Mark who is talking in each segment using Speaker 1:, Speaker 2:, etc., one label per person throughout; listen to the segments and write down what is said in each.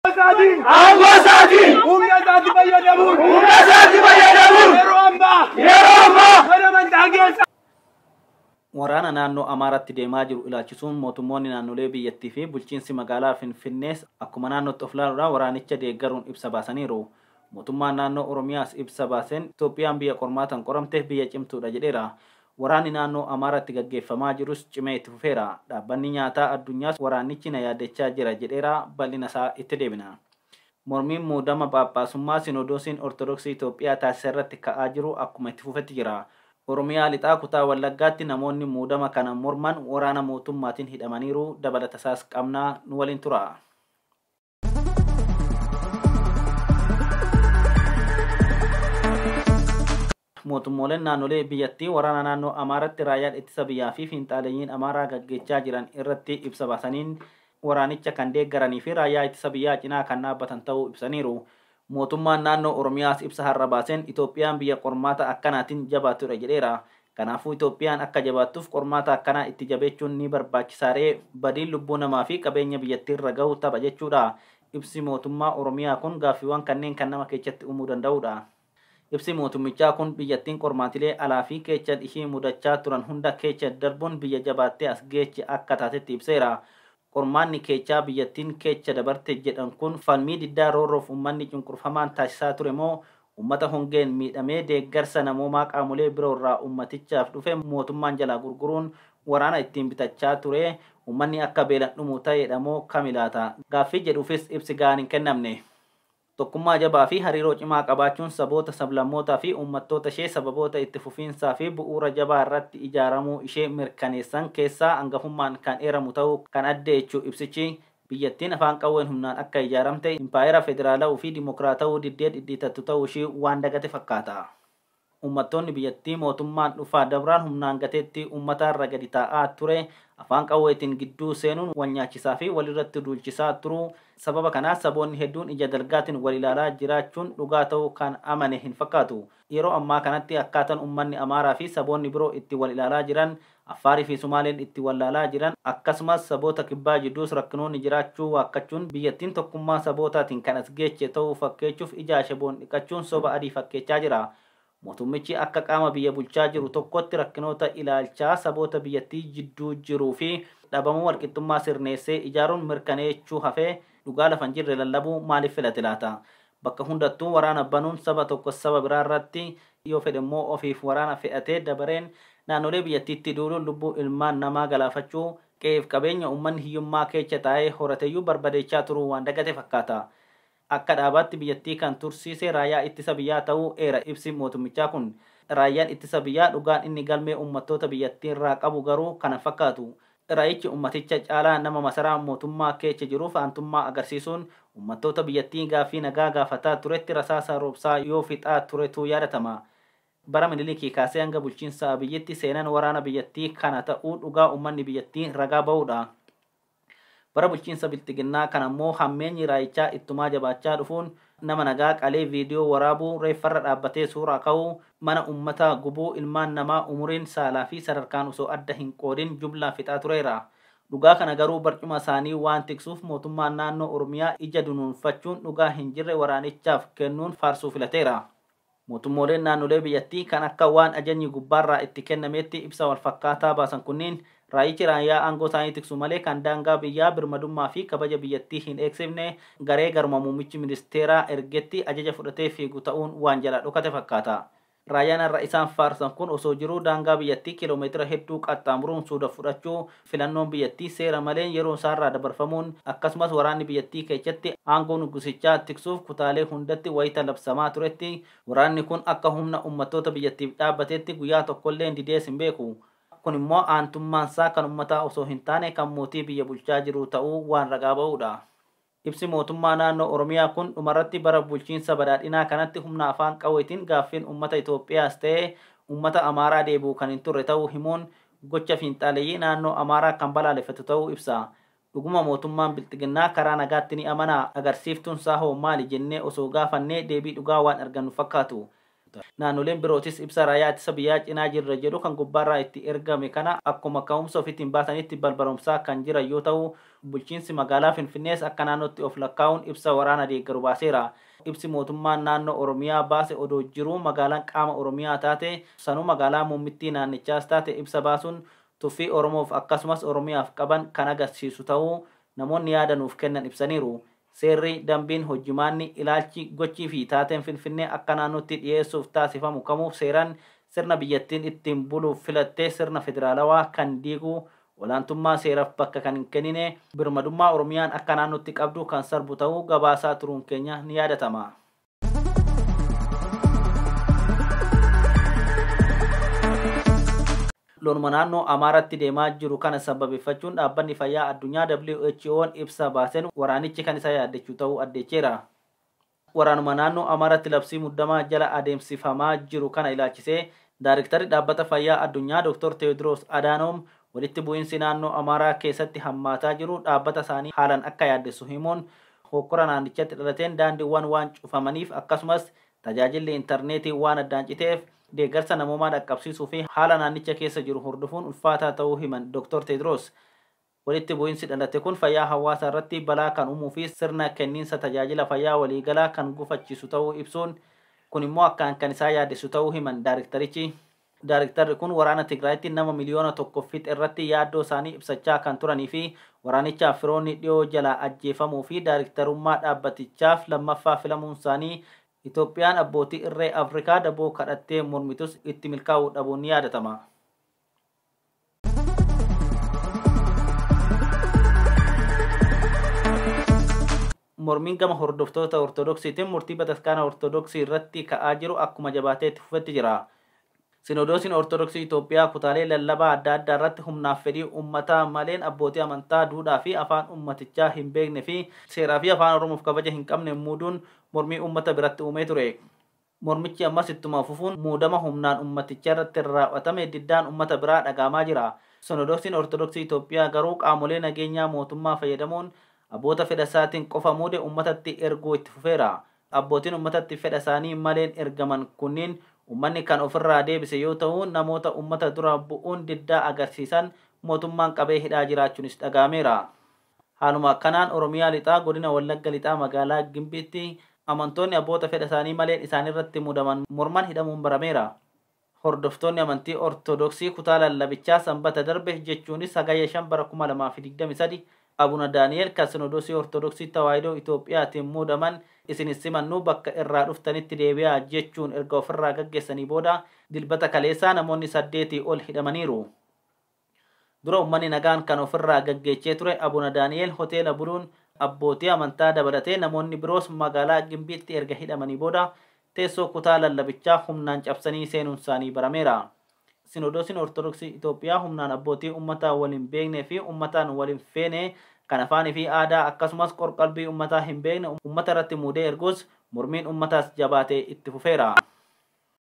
Speaker 1: isaatiin aangoo isaatiin humna isaatti fayyadamuun humna isaatti fayyadamuun yeroo ammaa yeroo ammaa mana amantaa keessa Waraana naannoo Amaaraatti deemaa jiru ilaalchisuun mootummoonni naannolee biyyattii fi bulchiinsi magaalaa Finfinnees akkuma naannootti of ilaaluudhaan waraanicha deeggaruun ibsa baasaniiru. Mootummaan Naannoo Oromiyaas ibsa baaseen Itoophiyaan biyya qormaataan qoramte, biyya cimtuudha jedheera. Waraanni naannoo Amaaraatti gaggeeffamaa jirus cimee itti fufeera. Dhaabbanni Nyaataa Addunyaas waraannichi na yaaddechaa jira jedheera, bal'ina isaa itti deebina. Mormiin muudama Phaaphaasummaa Sinoodoosiin Ortodoksii Itoophiyaa taasise irratti ka'aa jiru akkuma itti fufetti jira. Oromiyaa Lixaa kutaa Wallaggaatti namoonni muudama kana morman waraana mootummaatiin hidhamaniiru, dabalatasaas qabna, nu waliin turaa. mootummooleen naannolee biyyattii waraana naannoo Amaaratti raayyaan ittisa biyyaa fi fiinxaaleyyiin Amaaraa gaggeechaa jiran irratti ibsa baasaniin waraanicha kan deeggaranii fi raayyaa ittisa biyyaa cinaa kan dhaabbatan ta'uu ibsaniiru. Mootummaan Naannoo Oromiyaas ibsa har'a baaseen Itoophiyaan biyya qormaata akkanaatiin jabaattudha jedheera. Kanaafuu Itoophiyaan akka jabaattuuf qormaata akkanaa itti jabeechuun ni barbaachisaaree? Badiin lubbuu namaa fi qabeenya biyyattiirra gahu tapha jechuudha? Ibsi mootummaa Oromiyaa kun gaaffiiwwan kanneen kan nama keechatti uumuu danda'udha. Ibsi mootummichaa kun biyyattiin qormaatilee alaa fi keechan ishii mudachaa turan hunda keecha darbuun biyya jabaattee as geeche akka taatetti ibseera. Qormaanni keechaa biyyattiin keecha dabarte jedhan kun falmii diddaa roorroof ummanni cunqurfamaan taasisaa ture moo ummata hongeen miidhamee deeggarsa namoomaa qaamolee biroo irraa ummatichaaf dhufe mootummaan jalaa gurguruun waraana ittiin bitachaa ture ummanni akka beelan dhumu ta'eedha moo kami laata gaaffii jedhuufis ibsi gahaan hin kennamne. Tokkummaa jabaa fi hariiroo cimaa qabaachuun saboota, sablammootaa fi uummattoota ishee sababoota itti fufiinsaa fi bu'uura jabaa irratti ijaaramuu ishee mirkaneessan keessaa angafummaan kan eeramu ta'uu kan addeechu ibsichi, biyyattiin afaan qawween humnaan akka ijaaramte, impaayera federaala'uu fi dimokiraata'uu diddee dhidhiitattu ta'uu ishii waan dagate fakkaata. Uummattoonni biyyattii mootummaan dhufaa dabraan humnaan gateettii uummataa irra gadi taa'aa ture afaan qawweetiin gidduu seenuun wal nyaachisaa fi wal irratti duulchisaa turuu sababa kanaa saboonni hedduun ija dalgaatiin wal ilaalaa jiraachuun dhugaa ta'uu kan amane hin fakkaatu. Yeroo ammaa kanatti akkaatan uummanni Amaaraa fi saboonni biroo itti wal ilaalaa jiran Affaar fi Sumaaleen itti wallaalaa jiran akkasumas saboota kibbaa jidduus rakkinoonni jiraachuu waakkachuun biyyattiin tokkummaa sabootaatiin kan as geeche ta'uu fakkeechuuf ija ashaboon dhiqachuun soba adii fakkeechaa jira. Mootummichi akka qaama biyya bulchaa jiru tokkootti rakkinoota ilaalchaa saboota biyyattii jidduu jiruu fi dhabamuu walqixxummaa sirneessee ijaaruun mirkaneechuu hafee dhugaa lafa hin jirre lallabuu maaliif filate laata? Bakka hundattuu waraana banuun saba tokko saba biraa irratti, yoo fedhe immoo ofiif waraana fe'atee dabareen naannolee biyyattiitti duuluun lubbuu ilmaan namaa galaafachuu, qe'eef qabeenya uummanni hiyyummaa keecha taa'ee horateyyuu barbadeechaa turuu waan dagate fakkaata. Akka dhaabaatti biyyattii kan tursiise Raayyaa Ittisa Biyyaa ta'uu eera ibsi mootummichaa kun. Raayyaan Ittisa Biyyaa dhugaan inni galmee uummattoota biyyattiirraa qabu garuu kan hin fakkaatu. Raichi ummaticha caalaa nama masaraa mootummaa keecha jiruuf aantummaa agarsiisuun ummattoota biyyattii gaaffii nagaa gaafataa turetti rasaasa roobsaa yoo fixaa turetu yaadatama. Bara Minilikii kaasee hanga bulchiinsa Abiyyitti seenan waraana biyyattii kana ta'uu dhugaa ummanni biyyattii ragaa ba'uudha. Bara bulchiinsa Bilxiginnaa kana immoo hammeenyi Raichaa ittumaa jabaachaa dhufuun Nama nagaa qalee viidiyoo waraabuu, reeffarra dhaabbatee suuraa ka'uu, mana ummataa gubuu, ilmaan namaa umuriin, saalaa fi sadarkaan osoo adda hin qoodin jumlaan fixaa tureera. Dhugaa kana garuu barcuma isaanii waan tiksuuf mootummaan naannoo Oromiyaa ija dunuunfachuun dhugaa hin jirre waraanichaaf kennuun faarsuu filateera. Mootummooleen naannolee biyyattii kan akka waan ajajni gubbaarraa itti kennameetti ibsa walfakkaataa baasan kunniin raayyichi raayyaa aangoo isaanii tiksu malee kan daangaa biyyaa, birmadummaa fi kabaja biyyattii hin eegsifne garee garuma muummichi ministeeraa ergetti ajaja fudhatee fiigu ta'uun waan jalaa dhokate fakkaata. Raayyaan har'a isaan faarsan kun osoo jiruu daangaa biyyattii kiiloomeetira hedduu qaxxaamuruun suuda fudhachuu Filannoon biyyattii seera maleen yeroon isaarraa dabarfamuun akkasumas waraanni biyyattii keechatti aangoo nuggusichaa tiksuuf kutaalee hundatti wayita labsamaa turetti waraanni kun akka humna ummattoota biyyattiif dhaabbateetti guyyaa tokkolleen didees hin beeku. Kun immoo aantummaansaa kan ummataa osoo hin taane kan mootii biyya bulchaa jiruu ta'uu waan ragaa ba'uudha. Ibsi mootummaa naannoo Oromiyaa kun dhumarratti bara bulchiinsa badhaadhinaa kanatti humna afaan qawweetiin gaaffiin uummata Itoophiyaas ta'ee uummata Amaaraa deebi'u kan hin turre ta'uu himuun gocha fiinxaaleyyii naannoo Amaaraa kan balaaleffatu ta'uu ibsa. Dhuguma mootummaan Bilxiginnaa karaa nagaatti ni amanaa? Agarsiiftuunsaa hoo maali? jennee osoo gaafannee deebii dhugaa waan argannu fakkaatu. Naannoleen birootis ibsa Raayyaa Ittisa Biyyaa cinaa jirra jedhu kan gubbaarraa itti ergame kana akkuma ka'umsa ofiitiin baasanitti barbaromsaa kan jiran yoo ta'u, bulchiinsi magaalaa Finfinnees akka naannootti of lakkaa'uun ibsa waraana deeggaru baaseera. Ibsi mootummaan naannoo Oromiyaa baase odoo jiruu magaalaan qaama Oromiyaa taate sanuu magaalaa muummittii naannichaas taate ibsa baasuun tuffii Oromoof akkasumas Oromiyaaf qaban kan agarsiisu ta'uu namoonni yaada nuuf kennan ibsaniiru. Seerri, dambiin, hojjimaanni, ilaalchi, gochii fi taateen Finfinnee akka naannootti dhiyeessuuf taasifamu kamuu seeran sirna biyyattiin ittiin buluuf filatte sirna federaalawaa kan diigu, olaantummaa seeraf bakka kan hin kennine, birmadummaa Oromiyaan akka naannootti qabdu kan sarbu ta'uu gabaasaa turuun keenya ni yaadatama. loluma naannoo Amaaraatti deemaa jiru kana sababeeffachuun dhaabbanni fayyaa addunyaa WHO'n ibsa baasen waraanichi kan isa yaaddechuu ta'uu addeecheera. Waraanuma naannoo Amaaraatti labsii muddamaa jala adeemsifamaa jiru kana ilaachisee Daariktarri Dhaabbata Fayyaa Addunyaa Dr. Teewodiroos Adaanoom walitti bu'iinsi naannoo Amaaraa keessatti hammaataa jiru dhaabbata isaanii haalan akka yaaddessu himuun Hookkora naannichatti dhalateen daandiwwan waan cufamaniif akkasumas tajaajilli intarneetii waan addaan citeef deeggarsa namoomaa dhaqqabsiisuu fi haala naannicha keessa jiru hordofuun ulfaataa ta'uu himan Doktar Teediroos. Walitti bu'insi dhalate kun fayyaa hawaasaa irratti balaa kan uumuu fi sirna kenniinsa tajaajila fayyaa waliigalaa kan gufachiisu ta'uu ibsuun, kun immoo akkaan kan isaan yaaddessu ta'uu himan daarektarichi. Daarektarri kun waraana Tigraayitti nama miliyoona tokko fixe irratti yaaddoo isaanii ibsachaa kan turanii fi waraanichaaf firoonni dhiyoo jalaa ajjeefamuu fi daarektarummaa dhaabbatichaaf lammaffaa filamuun isaanii Itoophiyaan abbootii irree Afrikaa daboo kadhattee mormitus itti milkaa'uu dhabuun ni yaadatama. Mormiin gama hordoftoota Ortodoksiitiin murtii Bataskaana Ortodoksii irratti ka'aa jiru akkuma jabaatee itti fufetti jira. Sinoodoosiin Ortodoksii Itoophiyaa kutaalee lallabaa adda addaa irratti humnaaf fedhii uummataa maleen abbootii amantaa duudhaa fi afaan uummatichaa hin beekne fi seeraa fi afaan Oromoof kabaja hin qabne muuduun mormii uummata biratti uumee ture. Mormichi ammas ittuma fufuun muudama humnaan ummaticha irratti raaw'atame diddaan ummata biraa dhaga'amaa jira. Sinodoosiin Ortodoksii Itoophiyaa garuu qaamolee nageenyaa mootummaa fayyadamuun abboota fedha isaatiin qofa muude ummatatti erguu itti fufeera. Abbootiin ummatatti fedha isaanii maleen ergaman kunniin ummanni kan ofirraa deebise yoo ta'u namoota ummata dura bu'uun diddaa agarsiisan mootummaan qabee hidhaa jiraachuunis dhaga'ameera. Haaluma akkanaan Oromiyaa Lixaa Godina Wallagga Lixaa Magaalaa Gimbiitti amantoonni abboota fedha isaanii maleen isaanirratti mudaman morman hidhamuun barameera. Hordoftoonni amantii Ortodoksii kutaa lallabichaa Sanbata darbe jechuunis Hagayya 5 bara 2023 Abuna Daani'eel kan Sinodoosii Ortodoksii Tawaahidoo Itoophiyaatiin muudaman isin hin simannu bakka irraa dhuftanitti deebi'aa jechuun erga ofirraa gaggeessanii booda Dilbata kaleessaa namoonni saddeetii ol hidhamaniiru. Dura ummanni nagaan kan of irraa gaggeechee ture Abuna Daani'eel hoteela buluun abbootii amantaa dabalatee namoonni biroos magaalaa Gimbiitti erga hidhamanii booda teessoo kutaa lallabichaa humnaan cabsanii seenuunsaanii barameera. Sinoodoosiin Ortodoksii Itoophiyaa humnaan abbootii ummataa wal hin beeknee fi ummataan wal hin feene kan afaanii fi aadaa akkasumas qorqalbii ummataa hin beekne ummata irratti muudee erguus mormiin ummataas jabaatee itti fufeera.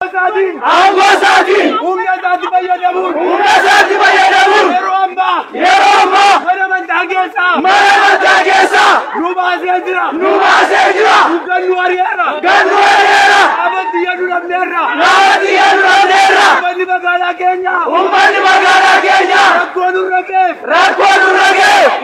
Speaker 1: isaatiin aangoo isaatiin humna isaatti fayyadamuun humna isaatti fayyadamuun yeroo ammaa yeroo ammaa mana amantaa keessaa mana amantaa keessaa nu baasee jira nu baasee jira nu gannu ari'eera gannu ari'eera dhaabatti yadu dhabneerra dhaabatti yadu dhabneerra ummanni magaalaa keenya ummanni magaalaa keenya rakkoo nurra geef rakkoo nurra geef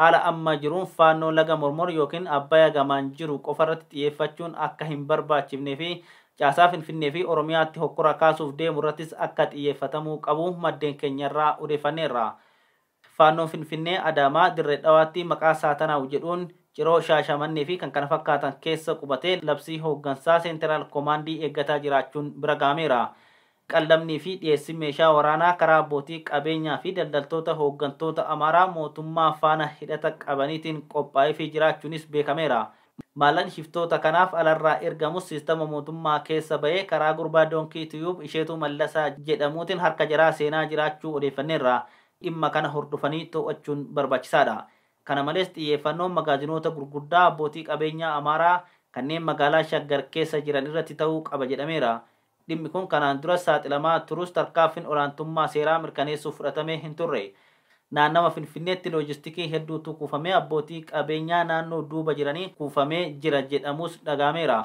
Speaker 1: Haala amma jiruun Faannoo laga Mormor ykn Abbaya gamaan jiru qofarratti xiyyeeffachuun akka hin barbaachifnee fi caasaa Finfinnee fi Oromiyaatti hokkora kaasuuf deemurrattis akka xiyyeeffatamuu qabu maddeen keenyarraa odeeffanneerra. Faannoon Finfinnee, Adaamaa, Dirre Dhawaatti maqaa Saatanaaw jedhuun Ciroo, Shaashamannee fi kkf keessa qubatee labsii hooggansaa Seenteraal Komaandii eeggataa jiraachuun bira gahameera. Qallabnii fi dhiyeessin meeshaa waraanaa karaa abbootii qabeenyaa fi daldaltoota hooggantoota Amaaraa mootummaa faana hidhata qabaniitiin qophaa'eefii jiraachuunis beekameera. Maallaqni shiftoota kanaaf alarraa ergamus siistama mootummaa keessa ba'ee karaa gurbaa Donkey Tube Isheetuu Mallasaa jedhamuutiin harka jaraa seenaa jiraachuu odeeffanneerra. Dhimma kana hordofanii to'achuun barbaachisaadha. Kana malees xiyyeeffannoon magaazinoota gurguddaa abbootii qabeenyaa Amaaraa kanneen magaalaa Shaggar keessa jiran irratti ta'uu qaba jedhameera. Dhimmi kun kanaan duras saaxilamaa turus tarkaanfiin olaantummaa seeraa mirkaneessuuf fudhatamee hin turre. Naannawa Finfinneetti loojistikii hedduutu kuufamee abbootii qabeenyaa naannoo duuba jiraniin kuufamee jira jedhamuus dhaga'ameera.